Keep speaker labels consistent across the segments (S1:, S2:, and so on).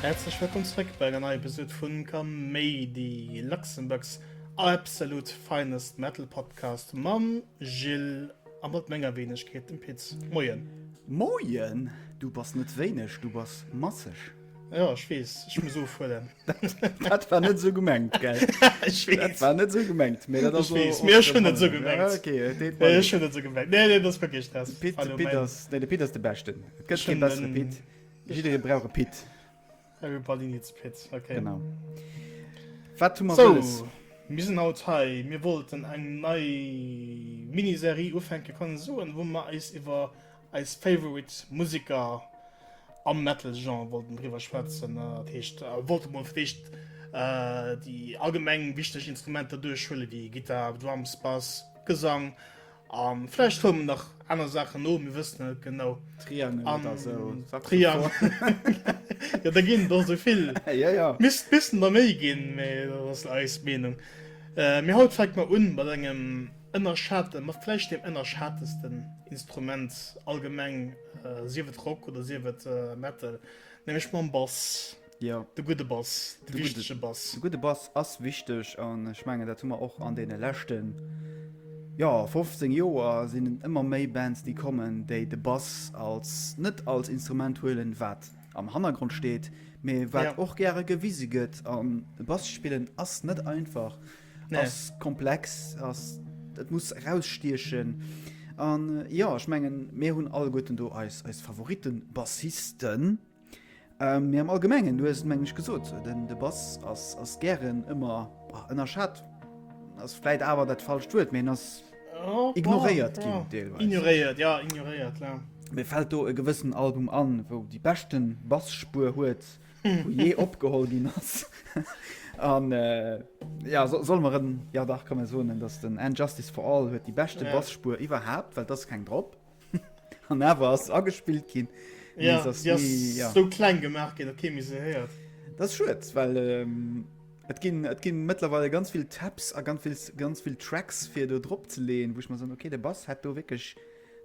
S1: Häerzlech wëllkomm zréck bei enger neier Episode vu Kaméidi, Luxembourg's absolute finest metal podcast mam Gilles a mat menger Weenegkeet, dem Pit. Moien! Moien!
S2: Du bass net wéineg, du bass masseg. Jo ech wees,
S1: ech muss ofhuelen. Dat war
S2: net sou gemengt gell. Ech wees. Dat war
S1: net sou gemengt.
S2: Mee dat ass och. Ech wees, mee ech hunn et sou
S1: gemengt. Ok, et deet mer leed.
S2: Ech hunn et sou gemengt. Nee,
S1: nee, dat ass wierklech dat. Pit, de Pit ass, nee
S2: de Pit ass de beschten. Et gëtt kee bessere Pit. Jidderee brauch e Pit. Everybody
S1: needs a Pit, ok. Genau.
S2: Wat hu mer wëlles? Sou, mir
S1: sinn
S2: haut hei,
S1: mir wollten eng nei Miniserie ufänke kann ee soen, wou mer eis iwwer Eis favorite Musiker am Metal Genre wollten driwwer schwätzen, dat heescht wollte mol fir d'éischt déi allgemeng wichteg Instrumenter duerchhuelen wéi Gittar, Drums, Bass, Gesang a vläicht huele mer nach aner Saachen no, mir wëssen et net genau. Triangen oder sou,
S2: Saxophon.
S1: Jo, der ginn et och esou vill. Jo, jo. Misst bëssen
S2: der méi
S1: ginn, mee dat ass eis Meenung. Mee haut fänke mer un mat engem. Ënnerschaten, ma vläicht deem ënnerschatesten Instrument allgemeng, sief et Rock oder sief et Metal, nämlech mam Bass. Jo. De gudde
S2: Bass,
S1: de wichtege Bass. De gudde Bass ass
S2: wichteg an ech mengen, dat hu mer och an deene leschten, jo, 15 Joer sinn et ëmmer méi Bands, déi kommen, déi de Bass als, net als Instrument huelen, wat am Hannergrond steet, mee wat och gäre gewise gëtt. An e Bass spillen ass net einfach. nee. ass komplex ass dat muss rausstiechen an äh, ja ech mengen mé hunn all goten do als als favoriten bassisten ähm, mir am allgemengen du meng ich gesot denn de bass ass ass gern immer ënner schat ass fleit awer dat falsch huet men ass oh, ignoréiert oh, oh. ignoréiert ja ignoréiert
S1: ja. mir fällt do
S2: e gewissen album an wo die beschten bassspur huet wou jee opgeholl ginn ass. An ja soll mer en ja dach kann soen, dats den End Justice for All huet déi beschte Basspuer iwwerhaapt, well dass keng drop. An awer ass agespillt ginn. Ja si
S1: ass esou kleng gemaach ginn, datt kee méi se héiert. Dat ass schued,
S2: well et ginn et ginn mëttlerweile ganz vill Tabs a ganz vill Tracks fir do dropzeleeën, wou ech mer soen, okay, de Bass hätt do wierklech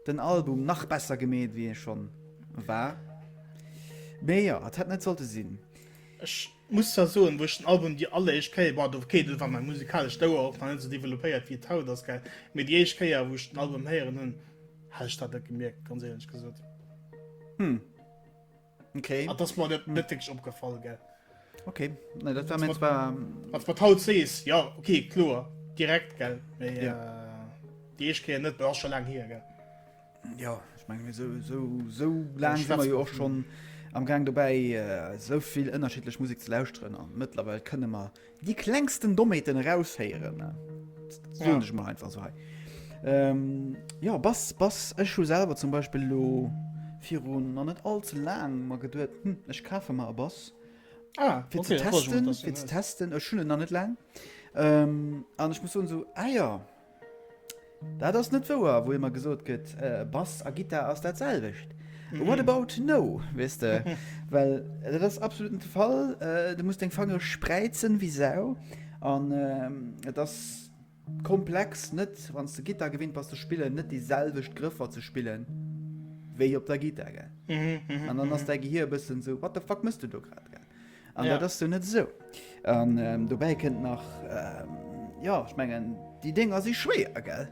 S2: Den Album nach besser gemeet wéi e schon war. Mee jo, et hätt net sollte sinn. Ech
S1: muss zwar soen, wou ech den Album déi alleréischt Kéier, bon do okay, do war mäi musikalescht Ouer och nach net esou developpéiert wéi et haut ass, gell, mee déi éischt Kéier wou ech den Album héieren hunn, hat ech dat net gemierkt, ganz éierlech gesot. Hm.
S2: Okay. Ah, das war net net
S1: wirklich opgefallen, gell? Okay, ne,
S2: dat war mir zwar. Als wat haut sees,
S1: ja, okay, klar, direkt, gell? Mais, ja. äh, die ich kenne net, war schon lang hier, gell? Ja,
S2: ich meine, so, so, so lang sind wir ja auch schon am Gang dabei, äh, so viel unterschiedlich Musik zu lauschteren. Und mittlerweile können wir Déi klengsten Dommheeten eraushéieren, soen ech mol einfach esou hei. Jo, Bass, ech hu selwer zum Beispill elo viru nach net all ze laangem mer geduet, hm, ech kafe mer e Bass, fir ze testen, ech hunn en nach net laang an ech muss soen esou, ah jo, Dat ass net wouer, wou ëmmer gesot gëtt, Bass a Gittar ass dat selwecht. What about no, weess de? Well dat ass absolut net de Fall. Du muss deng Fangere spräizen wéi Sau. An et ass komplex, net, wann s de Gittar gewinnt bass ze spillen, net déi selwecht Grëffer ze spillen, wéi op der Gittar, gell? An dann ass däi Gehir e bëssen esou, What the fuck mëss du do grad, gell? An ja. dat ass du net esou. An ähm, dobäi kënnt nach ähm, ja ich mengen die Dinger si schwéer gell.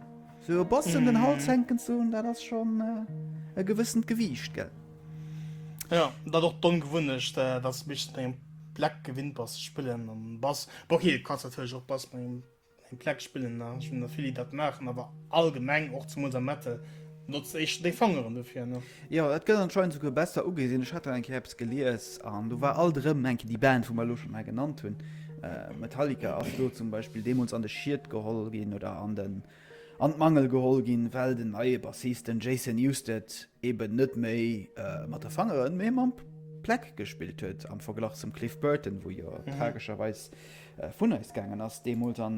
S2: So Bossen mm. den Hals mhm. henken zu dat ass schon äh, e gewëssend Gewiicht gell. Ja
S1: dat och don gewunnecht äh, dat mischt engem Black gewinnt bass spillen an Bass Bo okay, kannst op Bass Eng Pleck spillen nach, ech hunn der vill déi dat maachen, awer allgemeng, och zemools am Metal, notzt de éischter deng Fangeren dofir, ne? Jo, dat gëtt anscheinend
S2: souguer besser ugesinn. Ech hat do eng Kéier eppes gelies an do war alt erëm eng Kéier déi Band, wou mer elo schonn hei genannt hunn, Metallica ass do zum Beispill deemools an de Schied geholl ginn oder an den, an d'Mangel geholl ginn, well den neie Bassist, den Jason Newsted, eben net méi mat de Fangeren, mee mam Pleck gespillt huet, am Verglach zum Cliff Burton, wou jo tragescherweis vun eis gaangen ass deemools an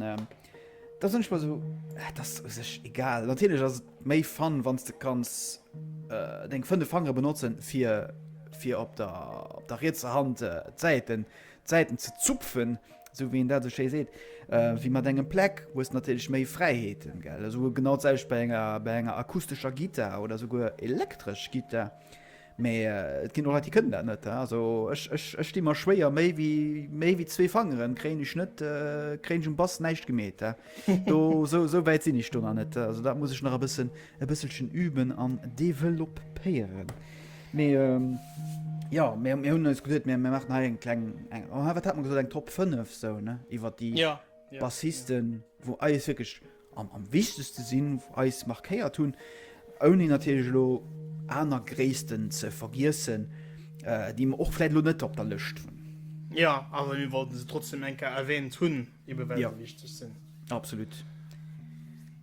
S2: da sinn ech mer esou, et ass u sech egal. Natierlech ass et méi Fun, wann s de kanns deng fënnef Fangere benotzen, fir fir op der op der rietser Hand d'Säiten d'Säiten ze zupfen, esou wéi een dat esou schéi seet, wéi mat engem Pleck hues de natierlech méi Fräiheeten, gell. Esou genau d'selwecht bei enger bei enger akustescher Gittar oder esouguer elektresch Gittar. Mä et ginn och Leit, déi kënnen dat net. Also ech di mer schwéier, méi wéi zwee Fangeren kréien ech net, kréien ech um Bass näischt gemeet. Sou wäit sinn ech do nach net. Also dat muss ech nach e bëssen e bësselchen üben an developéieren. Mee jo, mir hunn eis gesot, mir maachen hei eng kleng, wat hat mer gesot, eng Top 5 iwwer déi Bassisten, wou eis wierklech. an am wichtegste sinn, eis markéiert hunn, ouni natierlech elo aner Gréissten ze vergiessen, déi mer och vläit elo net op der Lëscht hunn. Jo,
S1: awer mir wollten se trotzdem eng Kéier erwähnt hunn, eben well se wichteg sinn. Absolut.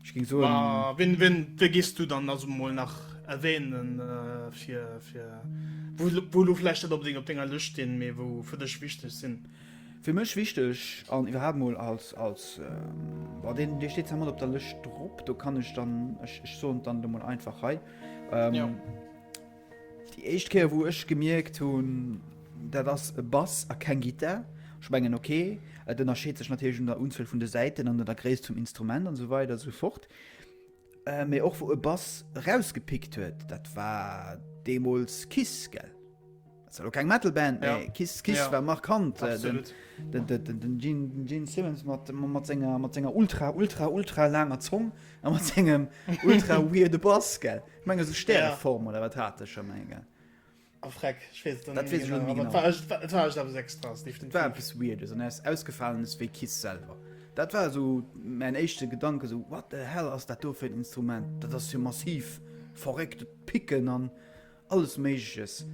S2: Ech géing soen. Ma wien, wien, wien
S1: géifs du dann also mol nach erwähnen, fir, fir wou, wou elo vläicht net onbedéngt op denger Lëscht stinn, mee wou fir dech wichteg sinn? Fir mech wichteg
S2: an iwwerhaapt mol als, als, bon deen dee steet zwar mat op der Lëscht drop, do kann ech dann, ech ech soen et dann elo mol einfach hei. Jo. Déi éischt Kéier wou ech gemierkt hunn, dat ass e Bass a keng Gittar. Ech mengen ok, et ënnerscheet sech natierlech un der Unzuel vun de Säiten an der Gréisst vum Instrument an esou weider esou fort. Äh, mee och wou e Bass erausgepickt huet, dat war deemools Kiss, gell? Dat war lo keng Metal-Band, mee ja. Kiss, Kiss ja. war markant. Äh, den, den, den, den, den Gene, den Gene Simmons mat, mat, senger, mat senger ultra, ultra, ultra langer Zong a mat sengem ultra weirde Bass, gell? Ich menge, so Stäreform ja. oder wat hat er schon, mein, gell? Oh, freck, ich weiß dann nicht genau, genau. Das war, ich, das war ich aber sechs draus, definitiv. Das war etwas Weirdes und er ist ausgefallen, ist wie Kiss selber. Das war so mein erster Gedanke, so, what the hell ist das da für ein Instrument? Das ist ja massiv, verrückt, Picken und alles Mögliches.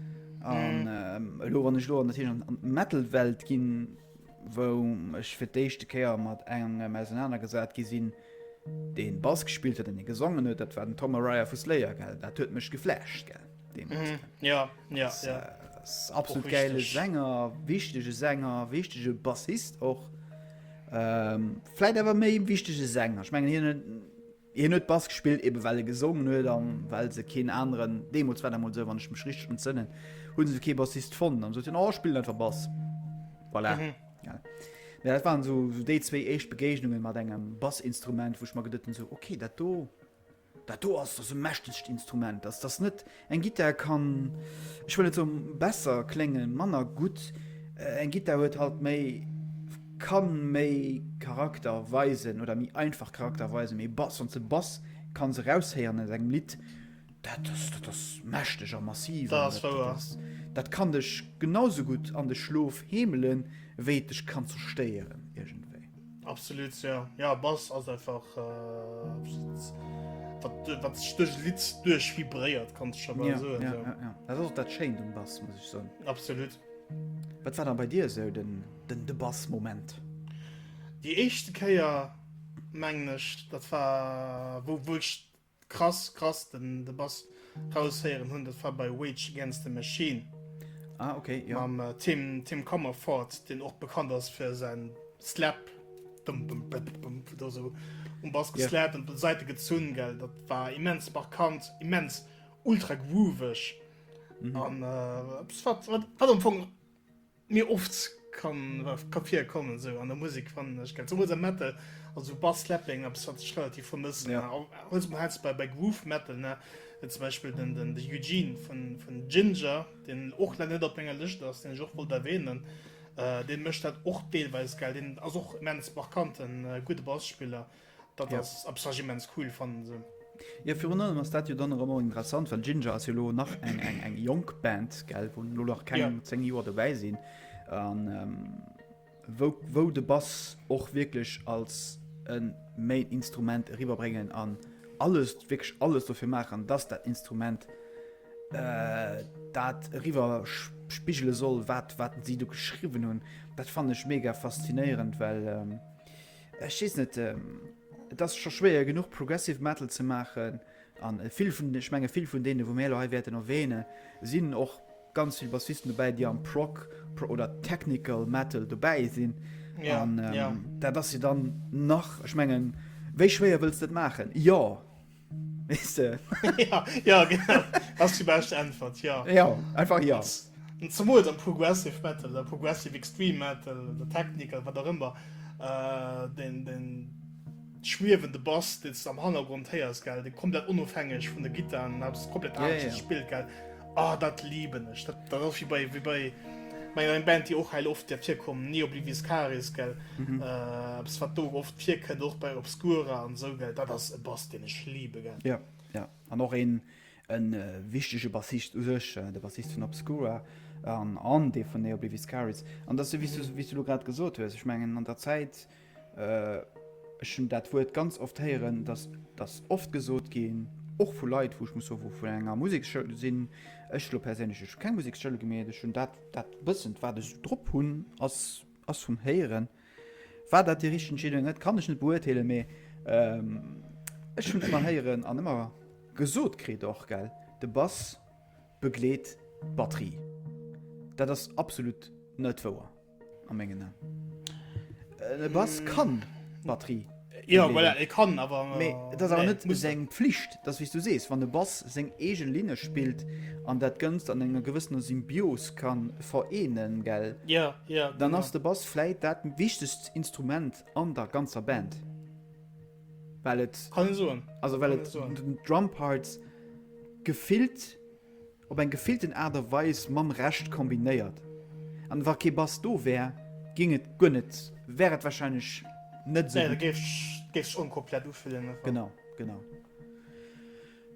S2: Und, mhm. ähm, wenn ich da natürlich an die Metal-Welt gehe, wo ich für die erste Kehr mit einem auseinandergesetzt gesehen den Bass gespielt hat, den gesungen hat, das war den Tom Araya von Slayer, gell? Das hat mich geflasht, gell? Mhm. Ja, ja, das, ja. Äh, absolut geile Sänger, wichtige Sänger, wichtige Bassist och. Ähm, Fläit awer méi wichtige Sänger. Ich mengen hier hier net Bass gespielt eben well er gesungen huet dann well se keen anderen Demos wenn mal so wann ich mich richtig entzünden hun se ke Bassist von dann so den oh, spiel einfach Bass voilà. mhm. ja. Ja, das waren so, so déi zwee echt Begegnungen mat engem Bassinstrument, woch mal gedëtten so okay dat do Dat do ass e mächtegt Instrument, dass dass net eng Gittar kann, ech wëll net soen besser kléngen, manner gutt. Eng Gittar huet halt méi, kann méi Charakter weisen oder méi einfach Charakter weisen, mee Bass, wann s de Bass kanns eraushéieren aus engem Lidd, dat ass, dat ass mächteg a massiv. Dat ass wouer. Dat kann dech genau esou gutt an de Schlof heemelen, wéi et dech kann zerstéieren iergendwéi. Absolut
S1: ja ja Bass ass einfach wat stöch Li duerch vibréiert kann schon ja, so, ja, so. Ja, ja. Dat ass
S2: dat Schein dem Bass muss ich so absolut
S1: Wat war da
S2: bei dir se so, den den de Bass Moment Di
S1: echte Käier menglech dat war wo wurscht Krass, krass, den de Bass raushéieren hunn, dat war bei Rage Against the Machine. Ah, okay,
S2: ja. Mam äh, Tim, Tim
S1: Comerford, den och bekannt ass fir sein Slap. Bum, bum, bum, bum, da so um Bass geslappt und Seite gezun, gell. Dat war immens markant, immens ultra groovig. Mhm. An äh, wat, wat, wat am Fong Méi oft ka virkommen esou an der Musek fannen ech gell zemools am Metal, also Bass Slapping eppes wat ech relativ vermëssen a also mer häls bei bei Groove Metal ne et zum Beispill den den de Eugene vun vun Jinjer deen och lä net op menger Lëscht ass deen ech och wollt erwähnen deen mécht dat och deelweis gell deen ass och immens markanten gudde Basspiller. Dat ass abstrakt immens cool, fannen se. Jo, virun allem
S2: ass dat jo dann och ëmmer interessant, well Jinjer ass jo lo nach eng eng eng jonk Band, gell, wou lo nach keng 10 Joer dobäi sinn an wou wou de Bass och wierklech als e Main Instrument eriwwerbréngen an alles wierklech alles dofir maachen, dass dat Instrument dat eriwwer spigele soll, wat wat si do geschriwwen hunn. Dat fannen ech mega faszinéierend, well. Ech weess net, et ass scho schwéier genuch Progressive Metal ze maachen an vill vun den, ech menge vill vun deene wou mir elo hei wäerten erwähne sinn och ganz vill Bassisten dobäi, déi am Prog oder Technical Metal dobäi sinn. Ja, an, ähm, ja. Dat ass jo dann nach, ech mengen, wéi schwéier wëlls de et maachen? Jo, Ja,
S1: genau. Ass déi bescht Äntwert, jo. Jo, einfach jo.
S2: Zemools am
S1: Progressive Metal oder Progressive Extreme Metal oder Technical, wat och ëmmer, den schwiewende Bass, deen s de am Hannergrond héiers, gell, dee komplett onofhängeg vun de Gittaren, ass komplett anescht gespillt, gell. Oh, dat liben ech. Dat, dat ass wie bei, wie bei menger eng Band, déi och heil oft der virkommen, nie oblivis caris, gell. Mhm. Äh, bis wat do oft virkënnt, och bei Obscura an so, gell. Dat ass e Bass, den ech liebe, gell. Ja, ja. An och
S2: een, en äh, wichtege Bassist u sech, äh, de Bassist vun Obscura an, an dee vun Neobliviscaris. An dat ass, wéi du, wéi du lo grad gesot hues, ech mengen, an der Zäit, äh, Ech hunn dat Wuert ganz oft héieren, dass dass oft gesot ginn, och vu Leit, wou ech muss soen, vun enger Museksschoul sinn. Ech elo perséinlech, ech hu keng Museksschoul gemeet. Ech hunn dat dat bëssen, wat ech esou drop hunn, ass ass vum Héieren. War dat déi richteg Entscheedung oder net, kann ech net beurteelen, mee ech hunn ëmmer héieren an ëmmer gesot kritt och, gell, de Bass begleet d'Batterie. Dat ass absolut net wouer. A mengen An. E Bass kann d'Batterie. Jo, voilà, e
S1: kann, awer. Mee et ass awer net
S2: seng Pflicht. Et ass, wéi s du sees, wann e Bass seng eege Linne spillt an dat Ganzt an enger gewëssener Symbios ka vereenen, gell? Jo, jo. Dann ass
S1: de Bass
S2: vläit dat wichtegst Instrument an der ganzer Band. Well et. Kann een soen. Also well
S1: et den
S2: Drumparts gefillt. op eng gefillten Aart a Weis mam Rescht kombinéiert an wa kee Bass do wär géing et guer net, wär et wahrscheinlech net esou gutt. Nee,
S1: da géif
S2: sech
S1: onkomplett ufillen einfach. Genau, genau.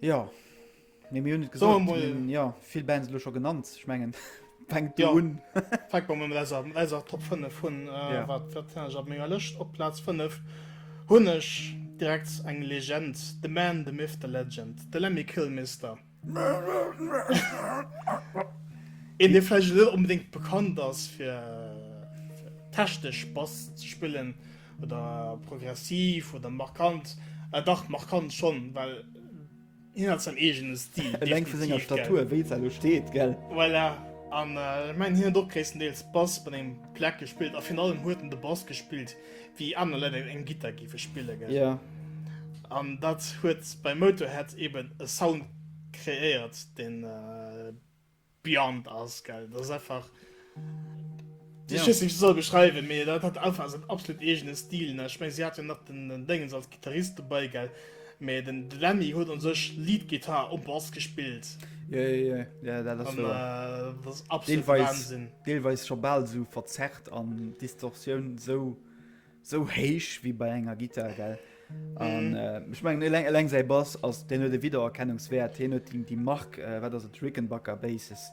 S2: Jo, mee mir hunn et gesot, mir hunn jo vill
S1: Bands
S2: elo scho genannt, ech mengen fänkt do un.
S1: Fänke mer mat
S2: eiser,
S1: mat eiser Top 5 un. Wat wat hunn ech
S2: op menger
S1: Lëscht? Op Plaz 5 hunn ech direkt eng Legend, The Man, The Myth, The Legend, de Lemmy Kilmister. Een dee vläicht net onbedéngt bekannt ass fir technesch Bass ze spillen oder progressiv oder markant, ah dach markant schonn, well hien hat säin eegene Stil, definitiv, gell. Eleng vu senger Statur,
S2: wéi se elo steet, gell. Voilà,
S1: an ech mengen hien huet och gréisstendeels Bass bei deem Plack gespillt a virun allem huet en de Bass gespillt. wéi aner Leit eng Gittar géife spille gell? Yeah.
S2: An dat
S1: huet bei Motorhead eben e Sound kreéiert, deen äh, beyond ass gell. Dat ass einfach. Yeah. Ich nicht soll beschreiben, mir dat hat einfach en absolut eegene Stil. Ech meng si hat jo nach den Déngens als Gittarist dobei gell. Mee den Lemmy huet an sech Lead Guitar um Bass gespillt. Jo jo jo, jo
S2: dat ass wouer. Dat
S1: ass
S2: absolute
S1: Wahnsinn. Deelweis scho bal esou
S2: verzerrt an Distortioun esou esou héich wéi bei enger Guitar gell. An ech mengen eleng eleng säi Bass ass deen huet e Wiedererkennungswäert. Hien huet déi déi Mark, wat ass et, Rickenbacker Basses,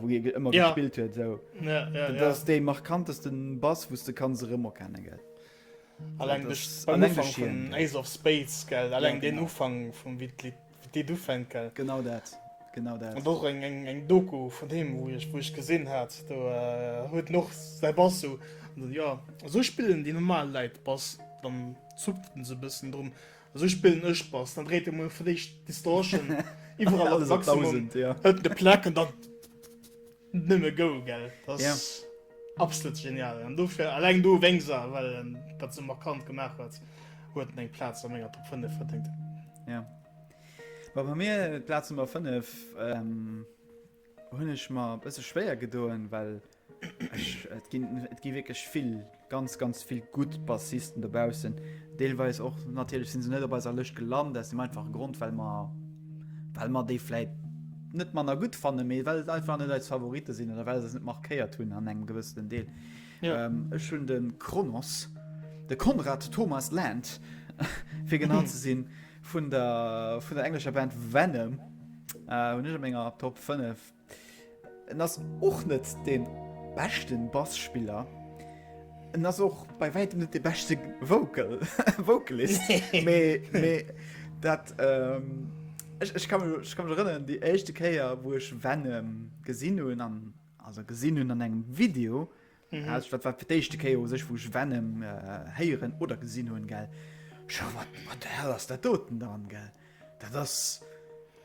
S2: wou hie ëmmer gespillt huet esou. Dat ass
S1: dee
S2: markantesten Bass wou s de kanns erëmerkenne gell. Alleng duerch
S1: den Ufank
S2: vun Ace
S1: of Spades, gell? Alleng deen Ufank vun wéi
S2: d'Lidd,
S1: wéi d'Lidd ufänkt, gell? Genau dat,
S2: genau dat. An och eng,
S1: eng, eng Doku vun him, wou ech, wou ech gesinn hat, do huet en och säi Bass sou, jo, esou spillen déi normal Leit Bass, dann zuckt en sou bëssen drum, esou spillen ech Bass, dann dréit e mol fir d'éischt d'Distortion iwwerall op Maximum, hëlt en e Pleck
S2: an dann.
S1: Nëmme go gell dat ass
S2: absolut
S1: genial an dofir alleng do wéngs a well en dat se markant gemaach huet huet en eng Platz a ménger Top 5 verdéngt. Ja
S2: Wa bei mir Platz Nummer 5 ähm, hunn ech mar bësse schwéier gedoen, well et gi et gi wierklech vill ganz ganz vill gutt Bassisten dobaussen, deelweis och natierlech sinn se net op eiser Lëscht gelant aus dem einfache Grond well mer well mer déi vläit net manner gutt fannen, mee well et einfach net eis Favorite sinn oder well se eis net markéiert hunn an engem gewëssenen Deel. Ech
S1: hunn de
S2: Kronos, de Konrad Thomas Land fir genau ze sinn, vun der vun der englescher Band Venom hunn ech a menger Top 5. En ass och net dee beschte Bass-Spiller. En ass och bei wäitem net dee beschte Vocal, Vocalist. Nee. Mee, mee dat, ähm, ech, ech ka mech, ech ka mech erënneren, déi éischte Kéier, wou ech Venom gesinn hunn an, also gesinn hunn an engem Video, Mhm. Also, dat war fir d'éischte Kéier u sech, wou ech Venom äh, héieren oder gesinn hunn, gell. Scho, wat, wat der hell ass der doten dran, gell. Dat ass.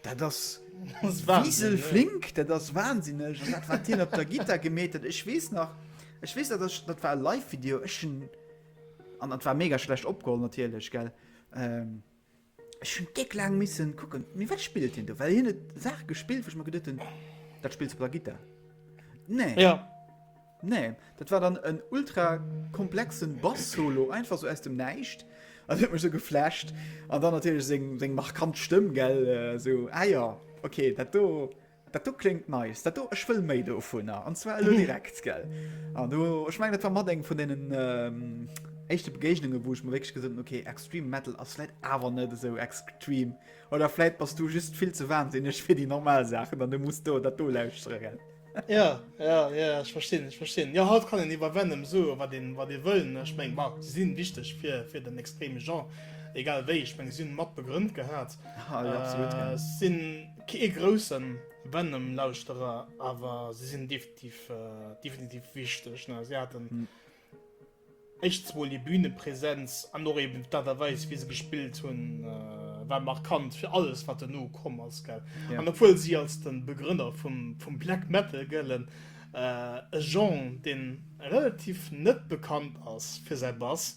S2: Dat ass. Das war Wiesel flink, dat ass wahnsinnig. Und dat war den op der Gitter gemetet. Ech wees nach. Ech wees dat ass- dat war e Live-Video. Ech hun- an dat war mega schlecht opgeholl natierlech, gell. Ähm, Ech hun déck laang missen kucken, mee wat spillt hien do? Well hien huet Saachen gespillt wou ech mer geduet hun, dat spills du op der Gittar? Nee. Ja.
S1: Nee,
S2: dat war dann en ultra komplexen Bass Solo einfach sou aus dem Näischt an dat huet mech sou geflasht an dann natierlech seng seng markant Stëmm gell, sou ah ja okay dat do Dat do kléngt nice. Dat do, ech wëll méi dovunner. An zwar elo direkt, gell? An do, ech meng, dat war mat eng vun deenen ähm, éischte Begegnunge, wou ech mir wékeg gesot okay, Extreme Metal ass läit awer net esou extrem. Oder fläit bass du just vill ze wahnsinneg fir déi normal Saachen, an du muss do dat do lauschtere, gell? Ja, ja,
S1: ja, ech verstinn, ech verstinn. Ja, haut kann en iwwer Venom so wat den wat dir wëllen. Ech meng, ma si sinn wichteg fir fir den extreme Genre. Egal wéi, ech meng, si hunn mat begrënnt gehat. Ah, ja, absolut.
S2: Äh, sinn. Kee
S1: groussen Venom Lauschterer, awer se sinn definitiv definitiv wichteg ne. Se haten éischtens mol hir Bühnepräsenz an och eben d'Art a Weis wéi se gespillt hunn war markant fir alles wat duerno komm ass gell. An obwuel si als de Begrënner vum vum Black Metal gëllen, e Genre deen relativ net bekannt ass fir säi Bass,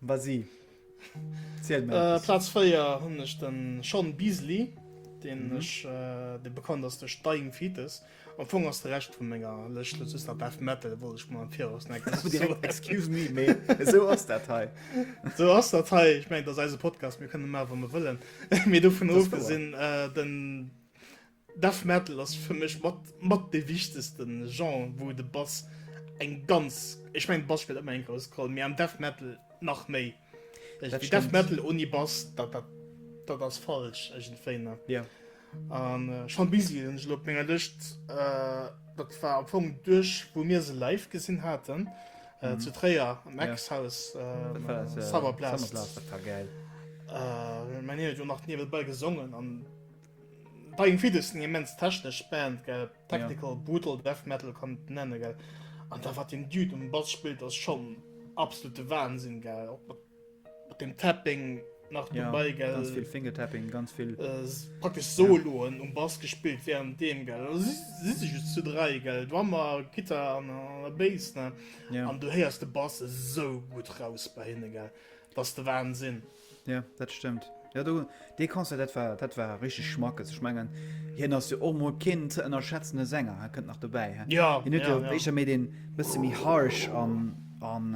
S1: Vas-y.
S2: Ziel mär eppes. Plaz
S1: 4 hunn ech de Shaun Beasley, deen ech, dee bekannt ass duerch Dying Fetus. Am Fong ass de Rescht vu menger Lëscht lo just nach Death Metal, wollt ech mol am Viraus neckes soen. Direkt excuse me,
S2: mee esou ass dat hei. Esou ass dat
S1: hei. Ech mengen, et ass eise Podcast, mir kënne maachen, wat mir wëllen. Mee dovun ofgesinn, den. Death Metal ass fir mech mat mat de wichtegsten Genre wou de Bass eng ganz ech mengen Bass spillt ëmmer eng grouss Roll mee am Death Metal nach méi. Dat Death stimmt. Metal oni Bass dat dat dat ass falsch iergendwéi ne. Jo.
S2: An
S1: Sean Beasley hunn ech elo op menger Lëscht dat war am Fong duerch wou mir se live gesinn haten zu Tréier am Ja. Ex Haus Dat war dat Summer Blast Summerblast dat war gäil. Mä hien huet jo nach niewebäi gesongen an. Dying Fetus eng immens technesch Band gell, technical yeah. brutal death metal kann nennen gell. An da wat den Dude um Bass spielt ass schon absolute Wahnsinn gell. Op, op, op dem Tapping nach yeah, dabei gell. Ganz viel Finger Tapping,
S2: ganz viel äh, praktisch
S1: Soloen yeah. um Bass gespielt während dem gell. Si si just zu drei gell. Drummer, Gitter an der Bass ne. Yeah. An du heierst de
S2: Bass
S1: so gut raus bei hinne gell. Dass de Wahnsinn. Jo, dat stëmmt.
S2: Jo, do, dee Concert, dat war, dat war richteg Schmackes. Ech mengen, hien ass jo och mol keen ze ënnerschätzende Sänger, hä, kënnt nach dobäi, hä? Ja, Hien huet jo ja, ja. éischter
S1: méi deen
S2: bësse méi harsh an, an,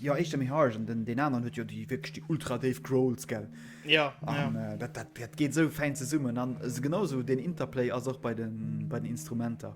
S2: jo, éischter méi harsh an den, deen aneren huet jo déi wierklech déi ultra déif Growls, gell? Ja, ja. An
S1: dat, dat,
S2: dat geet esou fäin zesummen. An esou genau esou deen Interplay ass och bei den, bei den Instrumenter.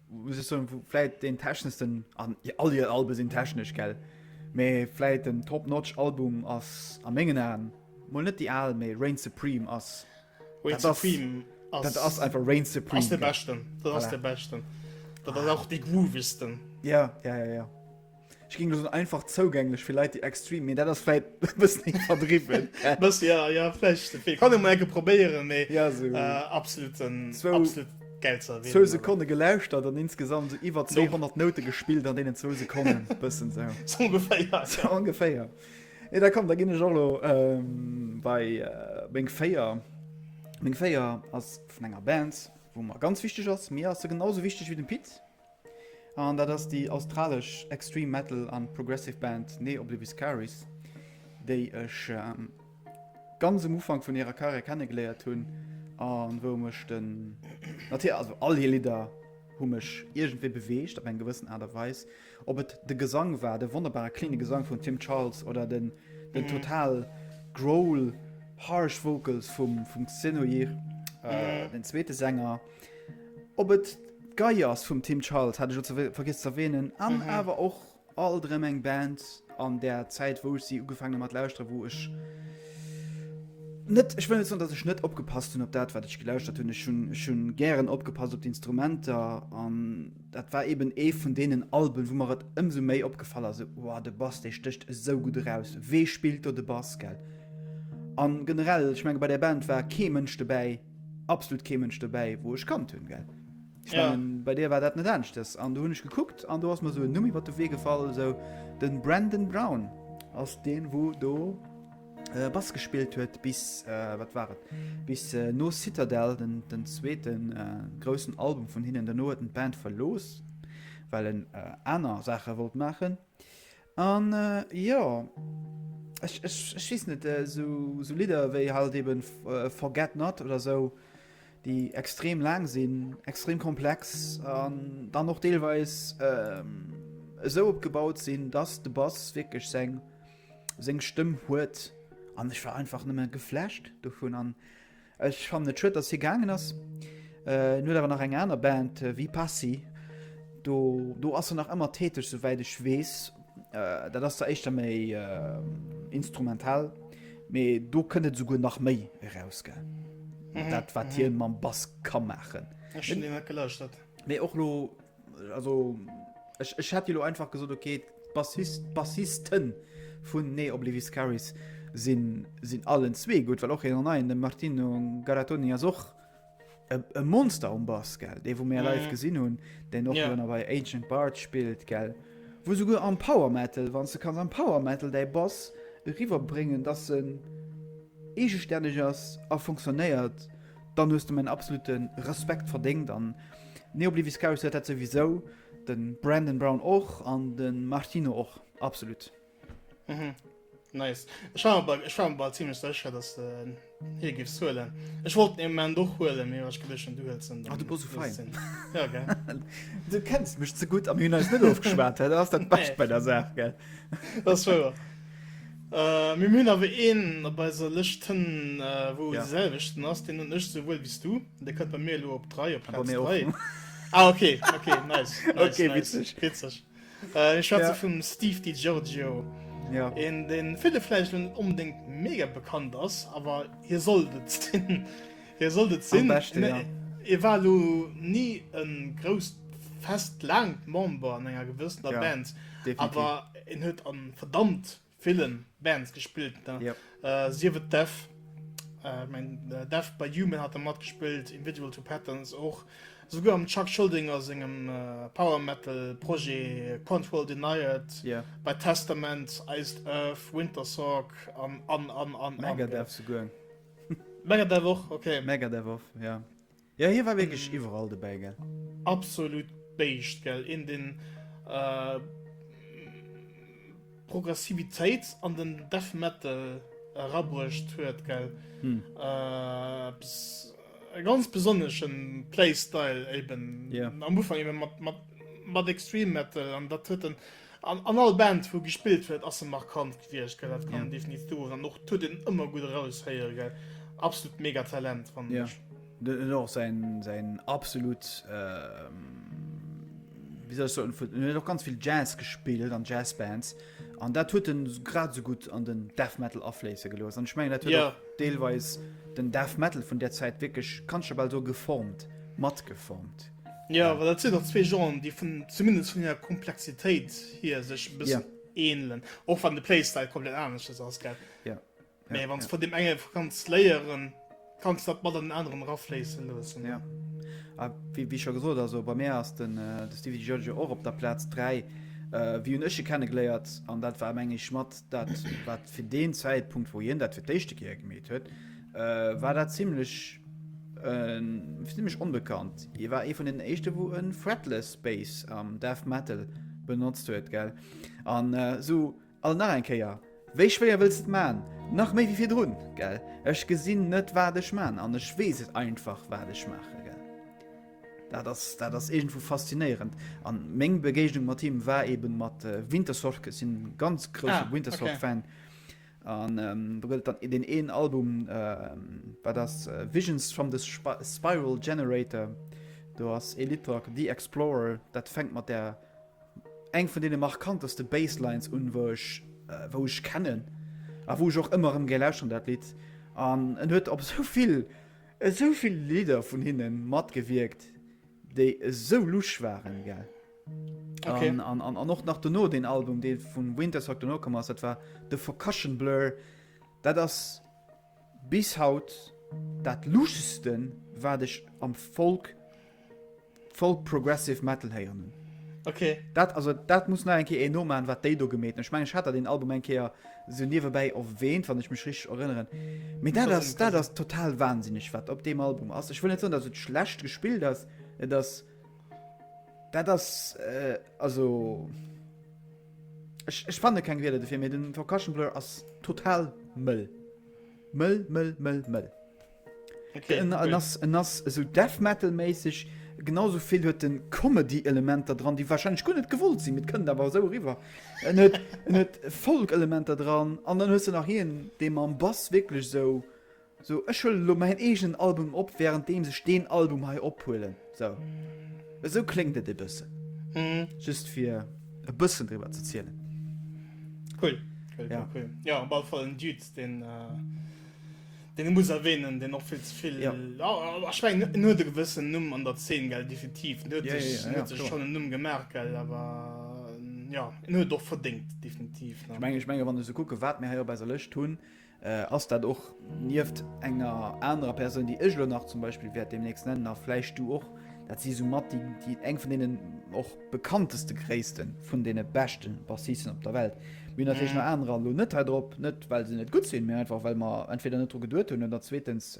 S2: muss ech soen, wou vläit deen techneschsten, an all hir Albe sinn technesch, gell, mee vläit den Top-Notch-Album ass a mengen Aen, mol net déi al, mee Reign Supreme ass, dat ass,
S1: dat ass einfach
S2: Reign Supreme. Dat ass dee beschten, dat
S1: ass dee beschten, dat ass och dee groovigsten. Jo, jo,
S2: jo. Ech ging so einfach zougänglech fir Leit déi extrem mir dat ass fäit bëssen eng verdriwwen bëssen ja ja
S1: flecht fir kann eng enke probéieren méi ja so
S2: absoluten
S1: zwou absolut gelzer zwou sekonne gelauschtert
S2: an insgesamt se iwwer 200 noute gespillt an deenen zwou sekonne bëssen se so ungefähr ja
S1: so ungefähr
S2: e da kommt da ginn ech och lo bei meng féier meng féier ass vun enger band wou mer ganz wichteg ass mir ass se genauso wichteg wéi dem pit An dat ass déi australesch Extreme Metal an Progressive Band Nee Obliviscaris, déi ech ganz um Ufank vun hirer Carrière kennegeléiert hunn an wou mech den, natierlech, also all hir Lidder hu mech iergendwéi beweegt op eng gewëssen Aart a Weis. Ob et de Gesang war, de wonnerbare cleane Gesang vum Tim Charles oder den total growl, harsh vocals vum Xenoir, den zweete Sänger. Ob et d'Gei ass vum Tim Charles, hat ech och ze vergiss ze erwänen, an awer och alt erëm eng Band an der Zäit, wou ech si ugefaangen hu mat lauschteren, wou ech net, ech wëll net soen, datt ech net opgepasst hunn op dat, wat ech gelauschtert hunn. Ech hunn, ech hunn gären opgepasst op d'Instrumenter an dat war eeben ee vun deenen Alben, wou mer et ëmsou méi opgefall ass, esou, Wow, de Bass, dee stécht esou gutt eraus. Wee spillt do de Bass, gell? An generell, ech menge bei där Band war kee Mënsch dobäi, absolut kee Mënsch dobäi, wou ech kannt hunn gell. Ich ja. mein, bei dir war dat net ernstcht ass an du hunn ech gekuckt an du hast mir so Numm iwwer de Wee gefall so den Brandon Brown ass den wo do äh, Bass gespielt huet bis äh, wat war et bis äh, no Citadel den den zweeten äh, großen Album vun hinnen der no den Band verlos well en äh, aner Sache wollt machen. An jo, ech weess net, esou Lidder wéi halt eben Forget Not oder esou, déi extrem laang sinn, extrem komplex an dann och deelweis esou opgebaut sinn, dass de Bass wierklech seng Stëmm huet an ech war einfach nëmme geflasht dovun. Ech fannen et schued dass hie gaangen ass. Hien huet awer nach eng aner Band wéi Passy. Do, do ass en nach ëmmer täteg souwäit ech weess. Dat ass der éischter méi instrumental. Mee do kënnt et esouguer nach méi eraus gell. Dat wat hien mam Bass ka maachen. Ech hunn deen net gelauschtert. Mee och lo, Also ech, ech hätt jo einfach gesot okay Bassist, Bassisten vun nee Oblivis Caris sinn sinn allen zwee gut, well och hien an neien de Martino Garatoni ass och e Monster um Bass gell dee wou mé live mhm. gesinn hunn, den och yeah. bei Agent Bart spilt gell. Wo souguer am Power Metal wann ze kann am Power Metal dei Bass riwer bringen, dat se egestänneg ass a funktionéiert. Dann hues de mäin absolute Respekt verdéngt an Neobliviscaris huet dat souwisou, de Brandon Brown och an de Martino och, absolut. Mhm.
S1: Nice. Ech war mir ech war mir bal ziemlech sécher, dass de hie giffs huelen. Ech wollt en Ament och huelen, mee ech geduecht du huels en. Ah, du bass esou fein.
S2: Ja, gell.
S1: Du kenns
S2: mech ze gutt a mir hunn eis net ofgeschwat, dat ass dat Bescht bei der Saach, gell. Dat ass wouer.
S1: Äh, mir hunn awer een op eiser Lëscht hënn, wou de selwechten ass. Deen hunn ech souwuel wéi s du. Dee kënnt bei mir elo op 3, op Plaz 3. Ah, ok, ok, nice, nice, nice, witzeg. Mir schwätze vum Steve Di Giorgio. Jo. Een,
S2: dee ville
S1: vläicht net onbedéngt mega bekannt ass, awer hie sollt et sinn. Hie sollt et sinn. Hie war elo ni e grousst, fest, laangt Member an enger gewëssener Band, awer en huet a verdammt ville Bands gespillt, sief et Death, ech mengen Death by Human hat e matgespillt, Individual to Patterns och, esouguer am Chuck Schuldiner sengem Power Metal Projet Control Denied, bei Testament, Iced Earth, Wintersorg an, an, an, an, an. Megadeth esouguer. Megadeth och, ok. Megadeth och, jo.
S2: Jo, hie war wierklech iwwerall dobäi, gell. Absolut
S1: Béischt, gell. Een, deen d'Progressivitéit an den Death Metal erabruecht huet, gell. Eppes, e ganz besonnesche Playstyle, éiben am Ufank mat Extreme Metal, an dat huet en An an all Band wou gespillt huet ass se markant gewiecht gell, dat kann een definitiv soen an och tut een ëmmer gutt eraus héieren gell, absolut mega Talent fannen ech. Den huet och
S2: säin säin absolut wéi soll ech soen vun en huet och ganz vill Jazz gespillt an Jazz Bands an dat huet en grad esou gutt an den Death Metal afléisse gelooss an ech mengen dat huet och deelweis den Death Metal vun där Zäit wierklech kann ech jo bal soe geformt, matgeformt. Ja, well dat sinn
S1: och zwee Genren, déi vun, zumindest vun hirer Komplexitéit hier sech e bëssen yeah. ähnelen. Och wann de Playstyle komplett anescht ass, ass gell? Ja. Yeah. Mee yeah, wann yeah. von dem enge ganz léieren, kannst dat mat an den anderen rafléissen loossen. Ja. Yeah. Ah,
S2: wie, wie schon gesot also bei mir ass den äh, de Stevie Judge och op der Platz 3 äh, wie un ësche kennengeléiert an dat war mengg mat dat wat fir den Zäitpunkt wo hien dat fir d'éischte Kier gemet huet Äh, war dat ziemlech, äh, ziemlech onbekannt. Hier war ee vun den éischte, wo en Fretless Bass am Death Metal benotzt huet, gell? An äh, so, all nach eng Kéier, wéi schwéier wëlls et man? Nach méi wie fir drun, gell? Ech gesinn net wat ech man, an ech wees et einfach wat ech maachen. Dat ass, dat ass irgendwo faszinéierend. An meng Begegnung mat him war eben mat äh, Wintersorg. Ech sinn ganz grouse ah, Wintersorg-Fan. Okay. An do gëtt et dann deen een Album, dat ass Visions from the Spiral Generator. Do ass ee Lidd dra, The Explorer, dat fänkt mat där eng vun deene markanteste Basslines un, wou ech, wou ech kennen a wou ech och ëmmer erëm géi lauschteren, dat Lidd. An en huet op esou vill, esou vill Lidder vun hinne matgewierkt, déi esou lusch waren, gell. Okay. An, an, an, an och nach duno den Album, dee vun Wintersock duno komm ass, dat war de Focussion Blur. Dat ass bis haut dat luschesten, wat ech am Folk, Folk Progressive Metal héieren hunn. Okay. Dat,
S1: also, dat muss
S2: nach eng Kéier ee nomaen, wat déi do gemeet hunn. Ech meng, ech hat dat den Album eng Kéier so niewebäi erwähnt, wann ech mech richteg erënneren. Mee dat ass, dat ass total wahnsinneg, wat op deem Album ass. Ech wëll net soen, datt et schlecht gespillt ass, et ass Dat ass äh, also ech, ech fanne keng Wierder dofir, mee den Percussion Blur ass total mëll. Mëll, mëll, mëll, mëll.
S1: Okay, en, cool. en, ass, en ass
S2: esou Death Metal méisseg, genauso vill huet den Comedy-Elementer dran, déi wahrscheinlech guer net gewollt sinn, mit kënnt awer esou riwwer. En huet, en huet Folk-Elementer dran, an dann hues du nach hien, dee mam Bass wierklech esou. Sou ech huelen elo mäin eegenen Album op während deems ech deen Album hei ophuelen. Sou esou kléngt et e bëssen. Just fir e bëssen driwwer ze zielen. Cool,
S1: cool, cool, cool. Jo, op alle Fall en Dude, deen, deen ee muss erwähnen, deen och vill ze vill, ech mengen en huet e gewëssen Numm an der Zeen, gell, definitiv. En huet sech, en huet sech schonn en Numm gemaach, gell, awer jo, en huet et och verdéngt, definitiv. Ech mengen, ech mengen, wann ech esou
S2: kucken, wat mir hei op eiser Lëscht hunn, Ass dat och nieft enger anerer Persoun, déi ech elo nach zum Beispill wäert deemnächst nennen, a vläicht du och, dat si soumat déi, eng vun deenen och bekannteste Gréisste vun deene beschte Bassisten op der Welt. Mir hunn natierlech nach anerer elo net hei drop, net well se net gutt sinn, mä einfach well mer entweder net dru geduet hunn oder zweetens,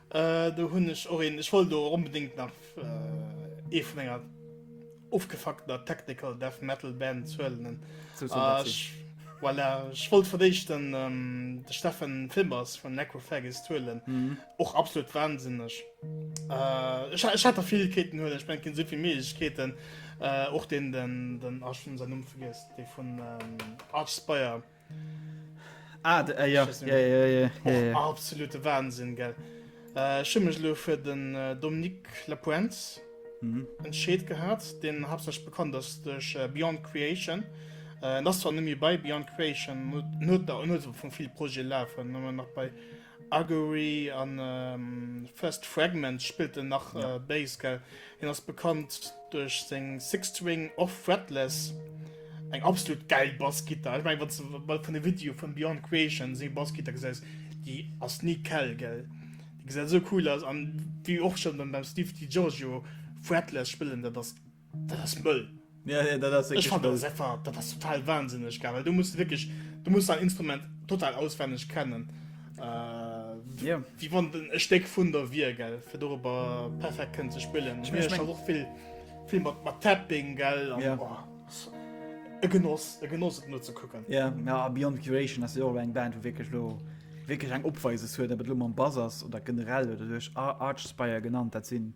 S1: Äh, do hunn ech och een. Ech wollt elo och onbedéngt nach ee vun enger ofgefuckter Technical Death Metal Band zuelenen. Zu sympathisch. Äh, Voilà, ech wollt fir d'éischt den, ähm, de Steffen Filmers vun Necrophagus zuelen. Mhm. Och absolut wahnsinneg. Äh, ech, ha- ech hat der vill Keeten huelen, ech mengen, esou vill Méiglechkeeten. Äh, och den, den, den, ah, ech hunn säin Numm vergiess, dee vun ähm, Archspire. Ah, de, äh, ja. Schüssen. Ja, ja, ja, ja, Och ja. absolute Wahnsinn, gell. Äh, ich hun mich lo für den äh, Dominique Lapuente Mhm. entscheet gehabt. Den hauptsächlich bekannt ist durch äh, Beyond Creation. Äh, das war nämlich bei Beyond Creation, nur, nur, da- nur so von vielen Projekten laufen, nur noch bei Augury a First Fragments spillt en nach Bass, gell? Hien ass bekannt duerch seng Six-String Off Fretless, eng absolut gäil Bassgittar. Ech mengen, wann s de mol vun e Video vum Björn Creations seng Bassgittar gesäis, déi ass ni kal, gell? Déi gesäit esou cool aus. An wéi och schonn beim Steve DiGiorgio, Fretless spillen, dat ass. Dat ass mëll. Ja, ja, dat ass wirklich. Ech fand dat einfach, dat ass total wahnsinneg geil, weil du musst wirklich, du musst dein Instrument total auswendig kennen. Äh, ja. Wie wann e Steck vun der wier, gell, fir darüber perfekt können ze spillen. Ich mein, ich mein, auch viel, viel mat, mat Tapping, gell. Ja. Oh, e Genoss, e Genoss nur zu gucken. Ja, ja Beyond Curation
S2: ass ja auch eng Band, wo wirklich lo wirklich eng Opweises huet, aber lo mam Bass ass oder generell oder durch Archspire genannt, dat sinn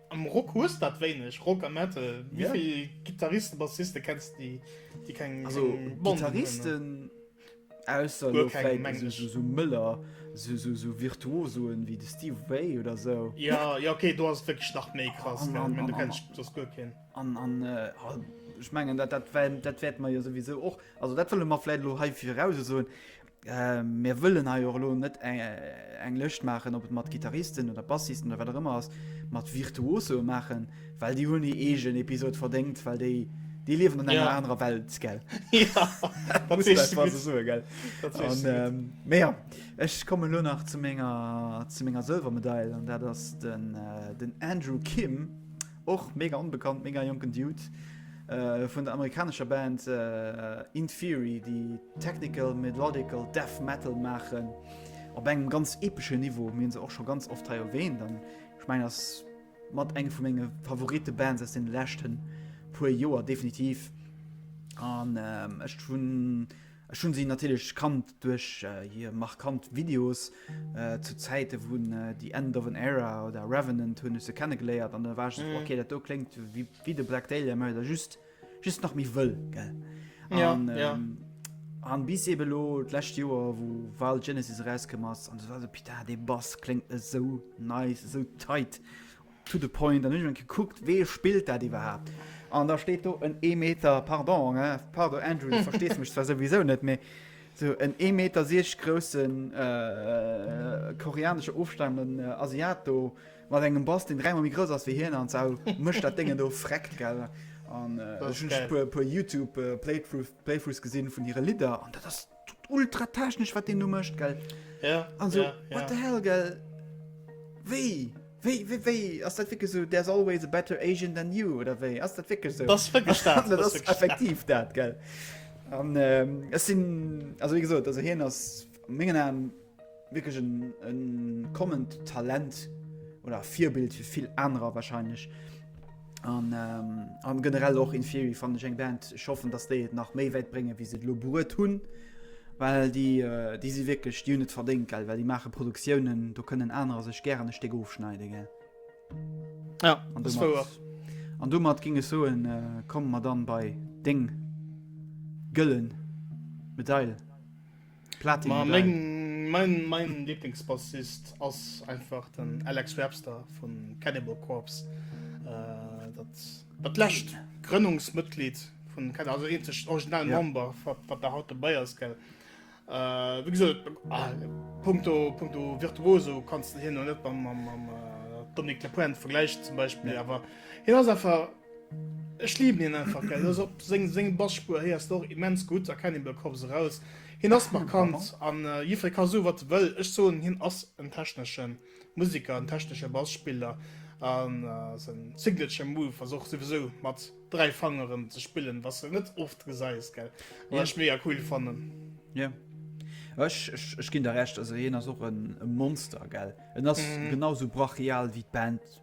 S1: Am Rock hues dat wéineg, Rock a Metal. Wéi vill Gittaristen, Bassisten kenns de déi déi keng Banden hunn? Also Gittaristen,
S2: ausser elo vläit esou Mëller, esou Virtuosoen wéi de Steve Vai oder esou. Jo, jo ok, do ass
S1: et wierklech nach méi krass, gell, ech mengen do kenns de soss guer keen. An
S2: ech mengen dat dat wäert mer jo souwisou och, also dat wëlle mer vläit elo hei viraussoen, Mir wëllen hei och elo net eng Lëscht maachen, ob et mat Gitarristen oder Bassisten oder wat auch ëmmer ass, mat Virtuoso maachen, well déi hunn hir eegen Episod verdéngt, well déi déi liewen an enger anerer Welt, gell?
S1: Ja, dat muss een einfach
S2: mal esou soen, gell? Dat sees du gutt. Mee jo, ech kommen elo nach zu menger, zu menger Sëlwermedail an dat ass den Andrew Kim. Och mega onbekannt, mega jonken Dude vun der amerikanescher Band Inferi, déi technical melodical death metal maachen op engem ganz epeschen Niveau. Mir hunn se och scho ganz oft hei erwähnt an ech mengen ass mat eng vu menge Favorite-Bands aus deene leschten puer Joer definitiv an ech hunn Ech hunn si natierlech kannt duerch hir markant Videos. Zu Zäite vun The End of an Era oder Revenant hunn ech se kennegeléiert an da war ech esou, okay, dat do kléngt wéi de Black Dahlia, mä der just, just nach méi wëll, gell? Ja, an, ja. Ähm, an bis eben lo d'lescht Joer, wou Wild Genesis erauskomm ass, an du war so, Pita, dee Bass kléngt esou nice, esou tight. To the point. An ech hunn gekuckt, wee spillt dat iwwerhaapt? An da steet do en ee Meter, pardon, hein, pardon Andrew, du verstees mech zwar souwisou net, mee esou en ee Meter siechzeg groussen koreanesche ofstamenden Asiat do mat engem Bass, deen dräimol méi grouss ass wéi hien, an zwar mécht dat Déngen do vreckt, gell. An ech hunn e puer Youtube-Playthroughs gesinn vun hire Lidder, an dat ass. ultra technesch wat den du mëscht gell ja, also, ja,
S1: ja. what the
S2: hell gell wéi wéi wéi wéi ass dat wike so there's always a better Asian than you oder wéi ass dat wike so das wirklich dat, das, das
S1: wirklich effektiv
S2: dat gell an ähm, es sinn also wéi gesot also hien ass mengen an Wierklech en kommend Talent oder Virbild fir vill anerer wahrscheinlech. An, ähm, an generell och in Theory fand ich eng Band ich hoffen dass déi et nach méi wäit brénge wie se lo bruet hunn well déi äh, déi si wierklech die net verdéngt gell well die mache Produktiounen do kënnen anerer sech gären e Stéck ofschneide gell
S1: ja, an du mat, an du mat
S2: ginge so en äh, kommen mat dann bei Ding gëllen Medail. Platin Ma geil. Meng, mein,
S1: mein Lieblingsbassist ass einfach den Alex Webster vun Cannibal Corpse. Äh, dat, dat läscht Grënnungsmëtglied vun Cannibal, also eenzeg original ja. Member, wat der haut dabei ass, gell. Äh, wie gesagt, ah, punkto, punkto Virtuoso kannst du hin und net beim, beim, beim äh, Dominique Lepoint vergleichen zum Beispiel, ja. aber hin ass einfach, Ech liben hien einfach gell, also op senge Bassspur héiers de och immens gutt erkennen hien bei Corps eraus. Hien ass markant an jiddfree ka soen wat e wëll, ech soen hien ass en technesche Museker, en technesche Bassspiller a säin signature move ass och souwisou mat 3 Fangeren ze spillen, wat s de net oft gesäis gell, wat ech mega cool fannen. Yeah.
S2: Ech, ech, ech ginn der Recht, also hien ass och e Monster gell, en ass genau esou brachial wéi d'Band.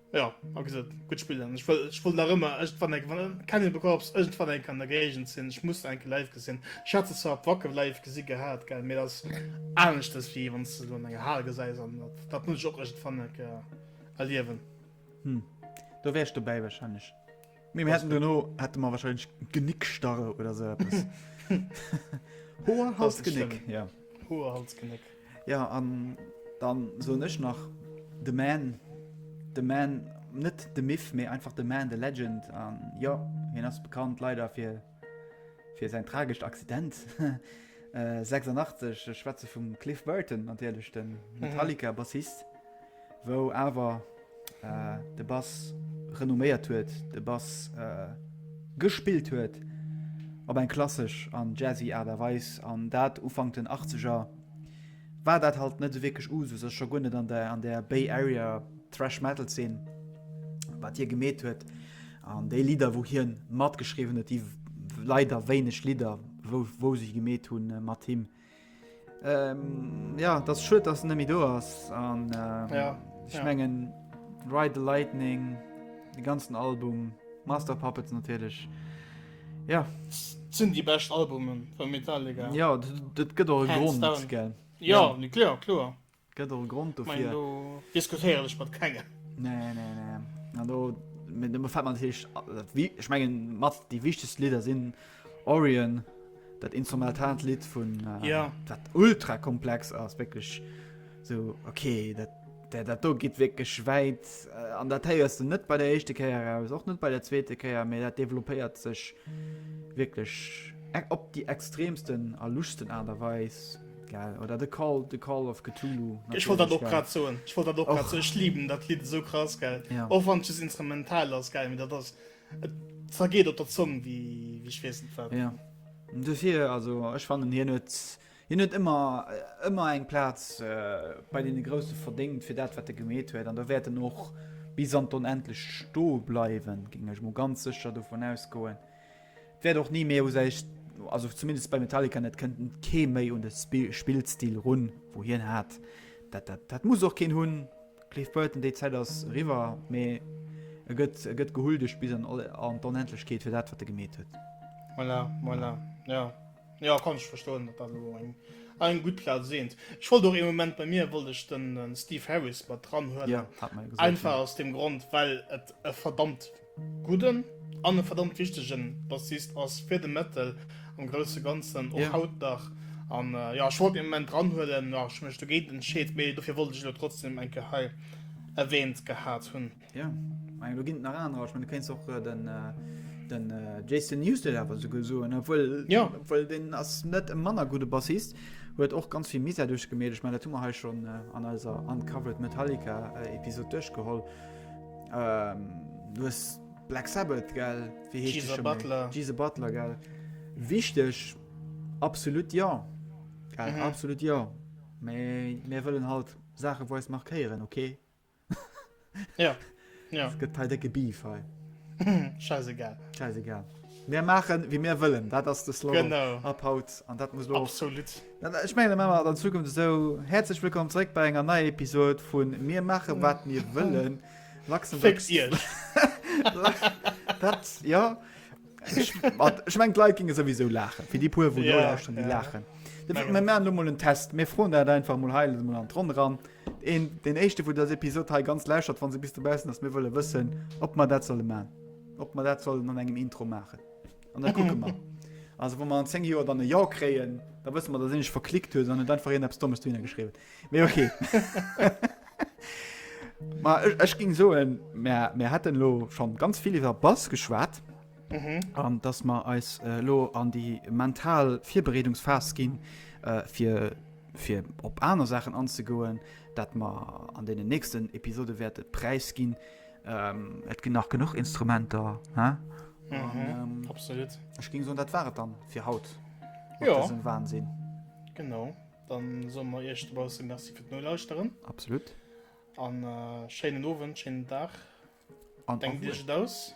S1: Ja, a gesot, gutt Spill an ech wëll, ech wëll nach ëmmer irgendwann eng, wann Cannibal Corpse irgendwann eng an der Géigend sinn, ech muss se eng Kéier live gesinn. Ech hat se zwar op Wacken live gesi gehat, gell, mee dat ass aneschtes, wéi wann s de se an enger Hal gesäis an dat, dat muss ech och irgendwann eng Kéier erliewen. Hm,
S2: do wär ech dobäi warscheinlech. Mee mir hätten duerno hätte mer wahrscheinlech Genickstarre oder esou eppes. Hoer, Das Hals, ist Genéck, schlimm. ja. Hoer, Hals, Genéck.
S1: Ja, an
S2: dann soen ech nach The Man, The Man, net The Myth, mee einfach The Man, The Legend. An jo, hien ass bekannt leider fir Fir säin tragescht Accident, 86, ech schwätze vum Cliff Burton natierlech, de Metallica-Bassist, wou awer de Bass renomméiert huet, de Bass gespillt huet op eng klassesch an jazzy Aart a Weis, an dat Ufank den Achtzeger, war dat halt net esou wierklech Usus, a scho guer net an der Bay Area Thrash-Metal-Zeen, wat hie gemeet huet. An déi Lidder, wou hien matgeschriwwen huet, déi leider wéineg Lidder, wou, wou sech gemet hunn äh, mat him. Ähm, ja, das schuet, dass nëmi do ass an ähm, ja, ich ja. mengen Ride the Lightning, de ganzen Album, Master Puppets natürlich. Ja sinn
S1: die best Albumen vu Metallica. Ja dat gëtt
S2: och Grund. Ja, ja. klar
S1: klar. Gëtt och
S2: e Grond dofir. Meng do diskutéieren
S1: ech mat kengem. Nee, nee, nee.
S2: An do mir do gefällt mir natierlech, äh, wie ech mengen mat déi wichtegst Lieder sinn Orion, dat instrumentalt Lied vun äh, Ja. dat
S1: ultra
S2: komplex ass wécklech so okay, dat dat, dat do geet wécklech wäit äh, an dat héiers du net bei der éischte Kéier aus, och net bei der zweete Kéier, mee dat développéiert sech wécklech e- op déi extremsten a luschsten Aart a Weis. Geil. Oder The Call, The Call of Cthulhu. Ech wollt dat och grad
S1: soen. Ech wollt dat och grad soen. Ech liben dat Lidd esou krass, gell. Ja. Och wann et just
S2: instrumental
S1: ass, gell. Mee dat ass. Et zergeet op der Zong wéi wéi ech weess net wat. Ja. Dofir
S2: also ech fannen hien huet hien huet ëmmer ëmmer eng Plaz äh, bei deene Grousse verdéngt fir dat wat e gemeet huet. An da wäert en och bis an d'Onendlecht sto bleiwen, géing ech mol ganz sécher dovun ausgoen. Wäert och ni méi u säi, also zumindest bei Metallica net, kënnt kee méi un de Spillstil run, wou hien hat. Dat, dat, dat muss och keen hunn. Cliff Burton, déi Zäit ass eriwwer, mee e gëtt, e gëtt gehuldegt bis an, an d'Onendlechkeet fir dat, wat e gemeet huet. Voilà, voilà,
S1: jo. Jo, kann ech verstoen, datt dat elo eng, eng gutt Plaz seent. Ech wollt och ee Moment, bei mir wollt ech den Steve Harris mat dranhuelen, einfach
S2: aus deem Grond,
S1: well et e verdammt. gudden an e verdammt wichtegen Bassist ass fir de Metal am grousse ganzen och haut nach
S2: an
S1: ja scho den Moment dranhuelen nach schmcht du geet entscheet méi dofir wollte ich lo trotzdem eng Gehei erwähnt gehabt hunn ja mein, du
S2: ginnt nach an ich mein, du kenst och äh, den äh, den äh, Jason Newsted awer so gesoen obwohl ja obwohl den
S1: ass net
S2: e manner gute Bassist huet och ganz viel Miser duerch gemet ich mein, dat hu mer he schon äh, an eiser uncovered Metallica äh, Episode duerchgeholl. Ähm, du hues Black Sabbath, gell? Wéi heescht Jesus Butler. Jesus
S1: Butler,
S2: gell? Wichteg, absolut ja. Gell? Mhm. Absolut ja. Mee mir wëllen halt Sache wo es markéieren, okay?
S1: ja. ja. Es
S2: gëtt halt decke Beef, hei. Scheiße,
S1: gell? Scheiße, gell?
S2: Mir machen, wie mir wëllen. Dat ass de Slogan. Genau. Ab haut.
S1: An dat muss
S2: lo... Absolut. Ech
S1: mengen da maache mer
S2: et an Zukunft esou. Häerzlech wëllkomm zréck bei enger neier Episod vu Mir maache wat mir wëllen. Luxemburgs. Féckt Iech! Lach.
S1: Dat,
S2: jo. Ech mat, ech mengen d'Leit géinge souwisou laachen. Fir déi puer wou Ja, nolauschteren, déi ja. laachen. Dofir,
S1: Mengen
S2: mir och. maachen elo
S1: mol en Test.
S2: Mir froen dat einfach mol hei mol an d'Ronn eran. Een, deen éischte wou dës Episod hei ganz lauschtert, wann se bis dobaussen ass, mir wëlle wëssen, ob mer dat solle maachen. Ob mer dat sollen an engem Intro maachen. An da kucke mer. Also wann mer an 10 Joer dann e Jo kréien, da wësse mer, datt een iech verklickt huet an et einfach een eppes Dommes dohinner geschriwwen huet. Mee okay. Ma ech, ech ging soen, mer, mer hätten elo schonn ganz vill iwwer Bass geschwat an datt mer eis elo an déi mental Virbereedungsphas ginn, fir, fir op aner Saachen anzegoen, dat mer an deenen nächsten Episode wäerte Präis ginn, Et ginn nach genuch Instrumenter, hä? Mhm,
S1: absolut. Ech géing soen, dat war et dann
S2: fir haut mat Ja. dësem
S1: Wahnsinn.
S2: Genau,
S1: dann soe mer iech dobausse Merci fir d'Nolauschteren Absolut.
S2: an äh,
S1: schéinen Owend, schéinen Dag. An Denkt
S2: iech Avenir. et aus.